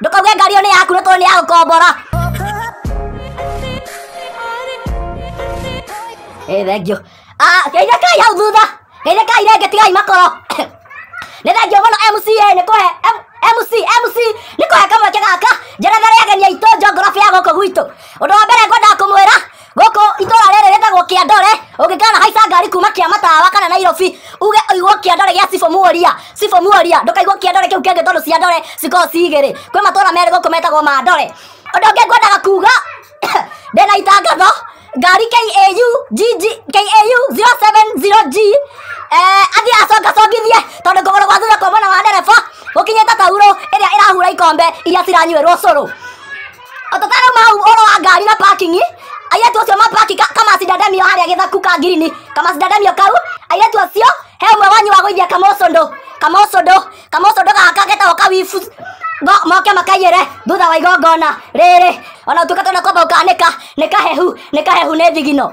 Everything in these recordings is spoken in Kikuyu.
ndũkauge ngari ĩyo nĩ yaku nĩ tondũ nĩ ya gũkombora ĩ thengio geithĩkai hau thutha geithĩkai rĩngĩ tigai makoro nĩ thengio mũno mca nĩ kũhe M- mc mc nĩ kũhe kamweke gaka njerethere ageni aitũ njongorobi ya gũkũ gwitũ ũndũ wa mbere ngwendaga kũmwĩra gũkũ itũra rĩrĩ rĩtagwo kĩandore ũngĩkana haica ngari kuma kĩa matawa kana nairobi uge ũigwo kĩandore gĩa cibũ muoria cibũ muoria ndũkaigwo kĩandore kĩu kĩngĩ tondũ ciandore cikorwo cigĩrĩ kwĩ matũra merĩ gũkũ metagwo mandore ũndũ ũngĩ ngwendaga kuga ndĩna itangatho ngari KAU GG KAU 070G eh, athiĩ acongacongithie tondũ kũgũrũ gwa thutha kwa mwena wa ndereba gũkinyĩte tauro ĩrĩa ĩrahura ikombe iria ciranyuĩrwo cũrũ Otatara mau oro wa ngari na parking. Ayetu acio ma parking kama sidadamio haria githaku ka ngirini. Kama sidadamio kau. Ayetu acio he umwe wanyu wa gwithia kamosondo. Kamosondo. Kamosondo gaka getagwo kawifu. Go moke makayere thutha wa igongona rĩrĩ ona utuka tona kwamba ukanĩka nĩ kahehu nĩ kahehu nĩ thigino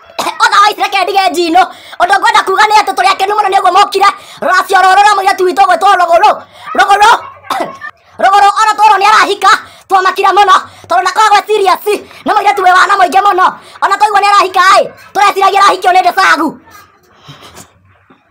ona waitire kendige njino ũndũ ngwenda kuga nĩ atĩ tũrĩ akenu mũno nĩ ũguo mokire rũracio rũrũ rwa mũirĩtu witũ gwĩtwo rũgũrũ rũgũrũ rũgũrũ ona tũrwo nĩ arahika twamakire mũno tondũ ndakoragwo e serious nĩ mũirĩtu wĩ wana mũingĩ mũno ona twaigua nĩ arahika ĩ tũreciragia arahikio nĩ ndĩcagu